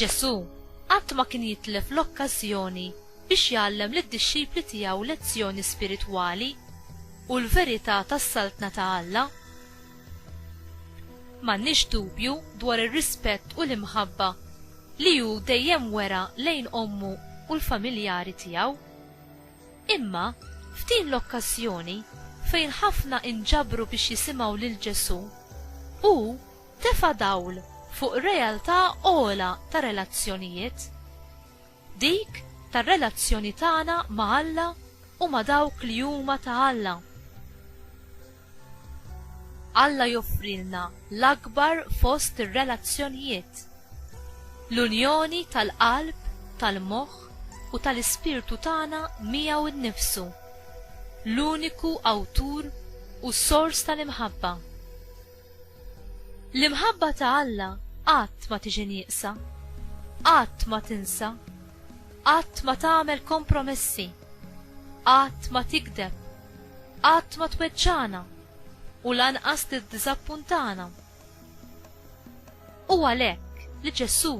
Ġesù qatt ma kien jitlef l-okkażjoni biex jgħallem lid-dixxipli tiegħu lezzjoni spiritwali u l-verità tas-Saltna ta' Alla. M'għandniex dubju dwar ir-rispett u l-imħabba li hu dejjem wera lejn ommu u l-familjari tiegħu. Imma, f'din l-okkażjoni fejn ħafna inġabru biex jisimgħu lil Ġesù, hu Tefa' dawl fuq realtà ogħla ta' relazzjonijiet, dik tar-relazzjoni tagħna ma' Alla u ma' dawk li huma ta' Alla. Alla joffrilna l-akbar fost ir-relazzjonijiet, l-unjoni tal-qalb, tal-moħħ u tal-ispirtu tagħna miegħu nnifsu, l-uniku Awtur u Sors tal-imħabba. L-imħabba ta' Alla qatt ma tiġi nieqsa, qatt ma tinsa, qatt ma tagħmel kompromessi, qatt ma tigdeb, qatt ma tweġġagħna u lanqas tiddiżappuntana. Hu għalhekk li Ġesù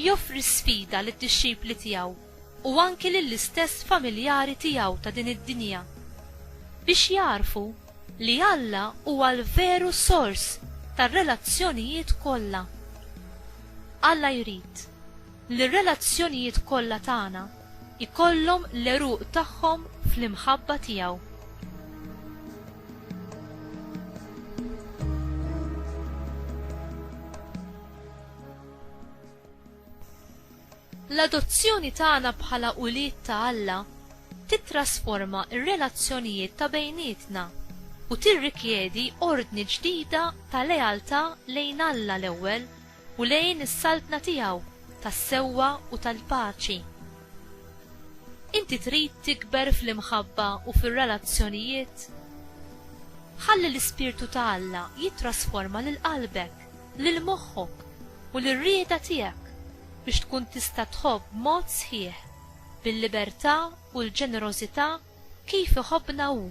joffri sfida lid-dixxipli tiegħu u anki lill-istess familjari tiegħu ta' din id-dinja, biex jagħrfu li Alla huwa l-veru sors tar-relazzjonijiet kollha. Alla jrid li r-relazzjonijiet kollha tagħna jkollhom l-għeruq tagħhom fl-imħabba tiegħu. L-adozzjoni tagħna bħala ulied ta' Alla tittrasforma r-relazzjonijiet ta' bejnietna u tirrikjedi ordni ġdida ta' lealtà lejn Alla l-ewwel u lejn is-Saltna tiegħu tas-sewwa u tal-paċi. Inti trid tikber fl-imħabba u fir-relazzjonijiet? Ħalli l-ispirtu ta' Alla jittrasforma lil qalbek. lil moħħok u lir-rieda tiegħek biex tkun tista' tħobb b'mod sħiħ, bil-libertà u l-ġenerożità kif iħobbna Hu.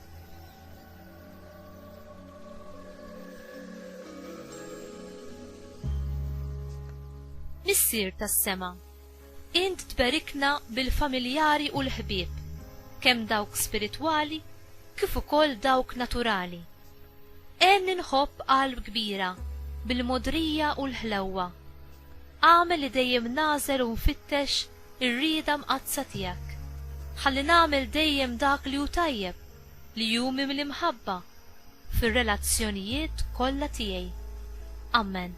Missier tas-Sema. Int tberikna bil-familjari u l-ħbieb, kemm dawk spiritwali kif ukoll dawk naturali. Għenni nħobb qalb kbira bil-mogħdrija u l-ħlewwa. Agħmel li dejjem nagħżel u nfittex ir-rieda mqaddsa tiegħek. Ħalli nagħmel dejjem dak li hu tajjeb, li hu mimli mħabba, fir-relazzjonijiet kollha tiegħi. Amen.